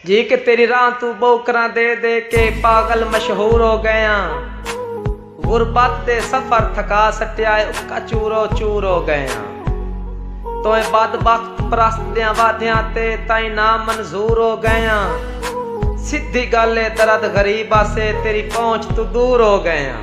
جی کے تیری راہ توں ٻوکراں دے دے کے پاڳل مشہور ہو ڳئے آں غربت دے سفر تھکا سٹیا ہے اکا چورو چور ہو ڳئے آں تئیں بدبخت پرست دیاں وعدیاں تے تئیں نا منظور ہو ڳئے آں سدھی ڳالھ ہے درد غریب آسے تیری پہنچ توں دور ہو ڳئے آں۔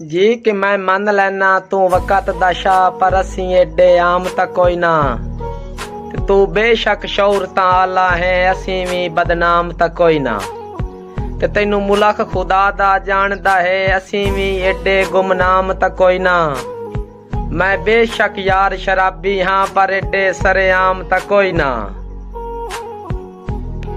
جی کہ میں من لینا توں وقت دا شاہ پر اسیں ایڈے عام تا کوئی نہ تے تو بے شک شعور تا آلہ ہے اسیں وی بدنام تا کوئی نہ تے تینو ملک خدا دا جان دا ہے اسیں وی ایڈے گمنام تا کوئی نہ میں بے شک یار شرابی ہاں پر ایڈے سرے عام تا کوئی نہ